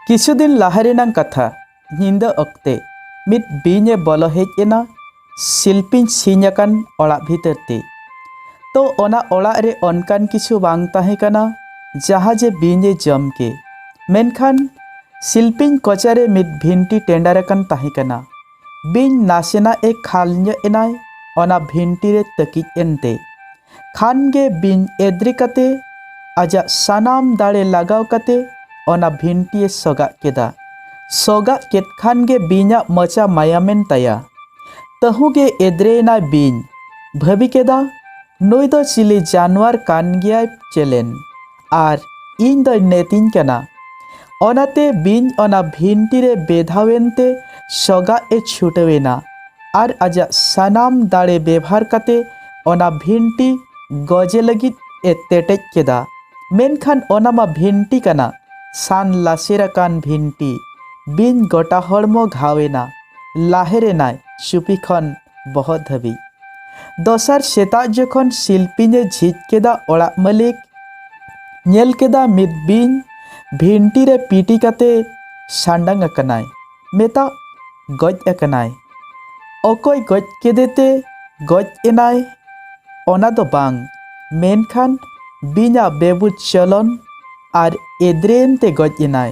ᱠᱤᱪᱷᱩ ᱫᱤᱱ ᱞᱟᱦᱟ ᱨᱮᱱᱟᱝ ᱠᱟᱛᱷᱟ ᱧᱤᱫᱟᱹ ᱚᱠᱛᱮ ᱢᱤᱫ ᱵᱤᱧᱮ ᱵᱚᱞᱚ ᱦᱮᱡ ᱮᱱᱟ ᱥᱤᱞᱯᱤᱧ ᱥᱤᱧ ᱟᱠᱟᱱ ᱚᱲᱟᱜ ᱵᱷᱤᱛᱟᱹᱨ ᱛᱮ ᱛᱚ ᱚᱱᱟ ᱚᱲᱟᱜ ᱨᱮ ᱚᱱᱠᱟᱱ ᱠᱤᱪᱷᱩ ᱵᱟᱝ ᱛᱟᱦᱮᱸ ᱠᱟᱱᱟ ᱡᱟᱦᱟᱸ ᱡᱮ ᱵᱤᱧᱮ ᱡᱚᱢ ᱠᱮ ᱢᱮᱱᱠᱷᱟᱱ ᱥᱤᱞᱯᱤᱧ ᱠᱚᱪᱟᱨᱮ ᱢᱤᱫ ᱵᱷᱤᱱᱴᱤ ᱴᱮᱸᱰᱟᱨ ᱟᱠᱟᱱ ᱛᱟᱦᱮᱸ ᱠᱟᱱᱟ ᱵᱤᱧ ᱱᱟᱥᱮᱱᱟᱜ ᱮ ᱠᱷᱟᱞ ᱧᱚᱜ ᱮᱱᱟᱭ ᱚᱱᱟ ᱵᱷᱤᱱᱴᱤ ᱨᱮ ᱛᱟᱹᱠᱤᱡ ᱮᱱᱛᱮ ᱠᱷᱟᱱ ᱜᱮ ᱵᱤᱧ ᱮᱫᱽᱨᱮ ᱠᱟᱛᱮ ᱟᱡᱟᱜ ᱥᱟᱱᱟᱢ ᱫᱟᱲᱮ ᱞᱟᱜᱟᱣ ᱠᱟᱛᱮ ᱚᱱᱟ ᱵᱷᱤᱱᱴᱤ ᱮ ᱥᱚᱜᱟᱜ ᱠᱮᱫᱟ ᱥᱚᱜᱟᱜ ᱠᱮᱫ ᱠᱷᱟᱱ ᱜᱮ ᱵᱤᱧᱟᱜ ᱢᱚᱪᱟ ᱢᱟᱭᱟᱢᱮᱱ ᱛᱟᱭᱟ ᱛᱟᱹᱦᱩ ᱜᱮ ᱮᱫᱽᱨᱮ ᱮᱱᱟᱭ ᱵᱤᱧ ᱵᱷᱟᱹᱵᱤ ᱠᱮᱫᱟ ᱱᱩᱭ ᱫᱚ ᱪᱤᱞᱤ ᱡᱟᱱᱣᱟᱨ ᱠᱟᱱ ᱜᱮᱭᱟᱭ ᱪᱮᱞᱮᱱ ᱟᱨ ᱤᱧ ᱫᱚᱭ ᱱᱮᱛᱤᱧ ᱠᱟᱱᱟ ᱚᱱᱟᱛᱮ ᱵᱤᱧ ᱚᱱᱟ ᱵᱷᱤᱱᱴᱤ ᱨᱮ ᱵᱮᱫᱷᱟᱣᱮᱱ ᱛᱮ ᱥᱚᱜᱟᱜ ᱮ ᱪᱷᱩᱴᱟᱹᱣ ᱮᱱᱟ ᱟᱨ ᱟᱡᱟᱜ ᱥᱟᱱᱟᱢ ᱫᱟᱲᱮ ᱵᱮᱵᱷᱟᱨ ᱠᱟᱛᱮ ᱚᱱᱟ ᱵᱷᱤᱱᱴᱤ ᱜᱚᱡᱮ ᱞᱟᱹᱜᱤᱫ ᱮ ᱛᱮᱴᱮᱡ ᱠᱮᱫᱟ ᱢᱮᱱᱠᱷᱟᱱ ᱚᱱᱟ ᱢᱟ ᱵᱷᱤᱱᱴᱤ ᱠᱟᱱᱟ ᱥᱟᱱ ᱞᱟᱥᱮᱨ ᱟᱠᱟᱱ ᱵᱷᱤᱱᱴᱤ ᱵᱤᱧ ᱜᱚᱴᱟ ᱦᱚᱲᱢᱚ ᱜᱷᱟᱣ ᱮᱱᱟ ᱞᱟᱦᱮᱨ ᱮᱱᱟᱭ ᱪᱩᱯᱤ ᱠᱷᱚᱱ ᱵᱚᱦᱚᱜ ᱫᱷᱟᱹᱵᱤᱡ᱾ ᱫᱚᱥᱟᱨ ᱥᱮᱛᱟᱜ ᱡᱚᱠᱷᱚᱱ ᱥᱤᱞᱯᱤᱧ ᱮ ᱡᱷᱤᱡ ᱠᱮᱫᱟ ᱚᱲᱟᱜ ᱢᱟᱹᱞᱤᱠ ᱧᱮᱞ ᱠᱮᱫᱟ ᱢᱤᱫ ᱵᱤᱧ ᱵᱷᱤᱱᱴᱤ ᱨᱮ ᱯᱤᱴᱤ ᱠᱟᱛᱮ ᱥᱟᱸᱰᱟᱝ ᱟᱠᱟᱱᱟᱭ᱾ ᱢᱮᱛᱟᱜ ᱜᱚᱡ ᱟᱠᱟᱱᱟᱭ᱾ ᱚᱠᱚᱭ ᱜᱚᱡ ᱠᱮᱫᱮᱛᱮ ᱜᱚᱡ ᱮᱱᱟᱭ ᱚᱱᱟ ᱫᱚ ᱵᱟᱝ, ᱢᱮᱱᱠᱷᱟᱱ ᱵᱤᱧ ᱟᱜ ᱵᱮᱵᱩᱡᱽ ᱪᱚᱞᱚᱱ ᱟᱨ ᱮᱫᱽᱨᱮ ᱮᱱᱛᱮ ᱜᱚᱡ ᱮᱱᱟᱭ᱾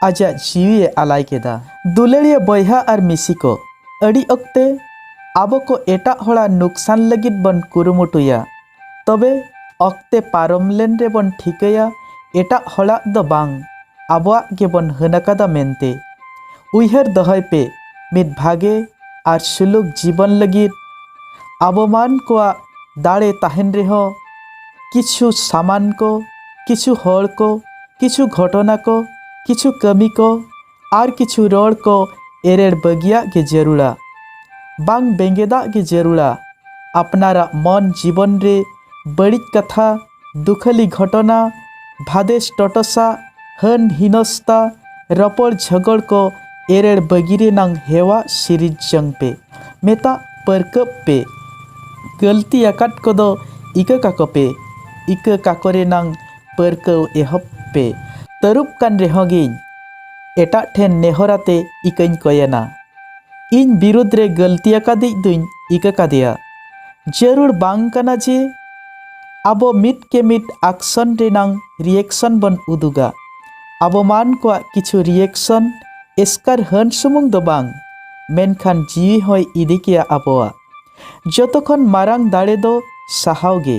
ᱟᱡᱟᱜ ᱡᱤᱣᱤ ᱮ ᱟᱞᱟᱭ ᱠᱮᱫᱟ᱾ ᱫᱩᱞᱟᱹᱲᱤᱭᱟᱹ ᱵᱚᱭᱦᱟ ᱟᱨ ᱢᱤᱥᱤ ᱠᱚ, ᱟᱹᱰᱤ ᱚᱠᱛᱮ ᱟᱵᱚ ᱠᱚ ᱮᱴᱟᱜ ᱦᱚᱲᱟᱜ ᱱᱩᱠᱥᱟᱱ ᱞᱟᱹᱜᱤᱫ ᱵᱚᱱ ᱠᱩᱨᱩᱢᱩᱴᱩᱭᱟ, ᱛᱚᱵᱮ ᱚᱠᱛᱮ ᱯᱟᱨᱚᱢ ᱞᱮᱱ ᱨᱮ ᱵᱚᱱ ᱴᱷᱤᱠᱟᱹᱭᱟ ᱮᱴᱟᱜ ᱦᱚᱲᱟᱜ ᱫᱚ ᱵᱟᱝ ᱟᱵᱚᱣᱟᱜ ᱜᱮ ᱵᱚᱱ ᱦᱟᱹᱱ ᱟᱠᱟᱫᱟ ᱢᱮᱱᱛᱮ᱾ ᱩᱭᱦᱟᱹᱨ ᱫᱚᱦᱚᱭ ᱯᱮ ᱢᱤᱫ ᱵᱷᱟᱜᱮ ᱟᱨ ᱥᱩᱞᱩᱠ ᱡᱤᱵᱚᱱ ᱞᱟᱹᱜᱤᱫ ᱟᱵᱚ ᱢᱟᱹᱱ ᱠᱚᱣᱟᱜ ᱫᱟᱲᱮ ᱛᱟᱦᱮᱸᱱ ᱨᱮᱦᱚᱸ ᱠᱤᱪᱷᱩ ᱥᱟᱢᱟᱱ ᱠᱚ, ᱠᱤᱪᱷᱩ ᱦᱚᱲ ᱠᱚ ᱠᱤᱪᱷᱩ ᱜᱷᱚᱴᱚᱱᱟ ᱠᱚ ᱠᱤᱪᱷᱩ ᱠᱟᱹᱢᱤ ᱠᱚ ᱟᱨ ᱠᱤᱪᱷᱩ ᱨᱚᱲ ᱠᱚ ᱮᱨᱮᱲ ᱵᱟᱹᱜᱤᱭᱟᱜ ᱜᱮ ᱡᱟᱹᱨᱩᱲᱟ ᱵᱟᱝ ᱵᱮᱸᱜᱮᱫᱟᱜ ᱜᱮ ᱡᱟᱹᱨᱩᱲᱟ ᱟᱯᱱᱟᱨᱟᱜ ᱢᱚᱱ ᱡᱤᱵᱚᱱ ᱨᱮ ᱵᱟᱹᱲᱤᱡ ᱠᱟᱛᱷᱟ ᱫᱩᱠᱷᱟᱹᱞᱤ ᱜᱷᱚᱴᱚᱱᱟ ᱵᱷᱟᱫᱮᱥ ᱴᱚᱴᱚᱥᱟ ᱦᱟᱹᱱ ᱦᱤᱱᱚᱥᱛᱟ ᱨᱚᱯᱚᱲ ᱡᱷᱚᱜᱚᱲ ᱠᱚ ᱮᱨᱮᱲ ᱵᱟᱹᱜᱤ ᱨᱮᱱᱟᱝ ᱦᱮᱣᱟ ᱥᱤᱨᱤᱡ ᱡᱚᱝ ᱯᱮ ᱢᱮᱛᱟᱜ ᱯᱟᱹᱨᱠᱟᱹᱵ ᱯᱮ᱾ ᱜᱟᱹᱞᱛᱤ ᱟᱠᱟᱫ ᱠᱚᱫᱚ ᱤᱠᱟᱹ ᱠᱟᱠᱚ ᱯᱮ᱾ ᱤᱠᱟᱹ ᱠᱟᱠᱚ ᱨᱮᱱᱟᱝ ᱯᱟᱹᱨᱠᱟᱹᱣ ᱮᱦᱚᱵ ᱯᱮ᱾ ᱛᱟᱹᱨᱩᱵ ᱠᱟᱱ ᱨᱮᱦᱚᱸ ᱜᱮᱧ᱾ ᱮᱴᱟᱜ ᱴᱷᱮᱱ ᱱᱮᱦᱚᱨ ᱟᱛᱮ ᱤᱠᱟᱹᱧ ᱠᱚᱭᱮᱱᱟ᱾ ᱤᱧ ᱵᱤᱨᱩᱫᱷ ᱨᱮ ᱜᱟᱹᱞᱛᱤ ᱟᱠᱟᱫᱤᱡ ᱫᱩᱧ ᱤᱠᱟᱹ ᱠᱟᱫᱮᱭᱟ᱾ ᱡᱟᱹᱨᱩᱲ ᱵᱟᱝ ᱠᱟᱱᱟ ᱡᱮ ᱟᱵᱚ ᱢᱤᱫ ᱠᱮ ᱢᱤᱫ ᱟᱠᱥᱚᱱ ᱨᱮᱱᱟᱝ ᱨᱤᱭᱮᱠᱥᱚᱱ ᱵᱚᱱ ᱩᱫᱩᱜᱟ᱾ ᱟᱵᱚ ᱢᱟᱱ ᱠᱚᱣᱟᱜ ᱠᱤᱪᱷᱩ ᱨᱤᱭᱮᱠᱥᱚᱱ ᱮᱥᱠᱟᱨ ᱦᱟᱹᱱ ᱥᱩᱢᱩᱝ ᱫᱚ ᱵᱟᱝ᱾ ᱢᱮᱱᱠᱷᱟᱱ ᱡᱤᱣᱤ ᱦᱚᱸᱭ ᱤᱫᱤ ᱠᱮᱭᱟ ᱟᱵᱚᱣᱟᱜ᱾ ᱡᱚᱛᱚ ᱠᱷᱚᱱ ᱢᱟᱨᱟᱝ ᱫᱟᱲᱮ ᱫᱚ ᱥᱟᱦᱟᱣ ᱜᱮ᱾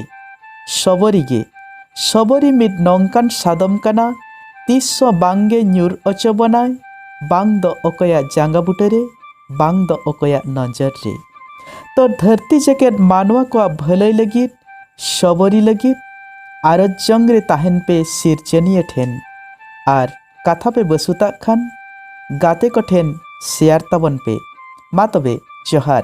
ᱥᱚᱵᱚᱨᱤ ᱜᱮ᱾ ᱥᱚᱵᱚᱨᱤ ᱢᱤᱫ ᱱᱚᱝᱠᱟᱱ ᱥᱟᱫᱚᱢ ᱠᱟᱱᱟ ᱛᱤᱥ ᱦᱚᱸ ᱵᱟᱝ ᱜᱮ ᱧᱩᱨ ᱚᱪᱚ ᱵᱚᱱᱟᱭ ᱵᱟᱝ ᱫᱚ ᱚᱠᱚᱭᱟᱜ ᱡᱟᱸᱜᱟ ᱵᱩᱴᱟᱹ ᱨᱮ ᱵᱟᱝ ᱫᱚ ᱚᱠᱚᱭᱟᱜ ᱱᱚᱡᱚᱨ ᱨᱮ᱾ ᱛᱚ ᱫᱷᱟᱹᱨᱛᱤ ᱡᱮᱜᱮᱛ ᱢᱟᱱᱣᱟ ᱠᱚᱣᱟᱜ ᱵᱷᱟᱹᱞᱟᱹᱭ ᱞᱟᱹᱜᱤᱫ ᱥᱚᱵᱚᱨᱤ ᱞᱟᱹᱜᱤᱫ ᱟᱨᱚᱡᱽ ᱡᱚᱝ ᱨᱮ ᱛᱟᱦᱮᱱ ᱯᱮ ᱥᱤᱨᱡᱟᱹᱱᱤᱭᱟᱹ ᱴᱷᱮᱱ ᱟᱨ ᱠᱟᱛᱷᱟ ᱯᱮ ᱵᱟᱹᱥᱩᱛᱟᱜ ᱠᱷᱟᱱ ᱜᱟᱛᱮ ᱠᱚ ᱴᱷᱮᱱ ᱥᱮᱭᱟᱨ ᱛᱟᱵᱚᱱ ᱯᱮ ᱢᱟ ᱛᱚᱵᱮ ᱡᱚᱦᱟᱨ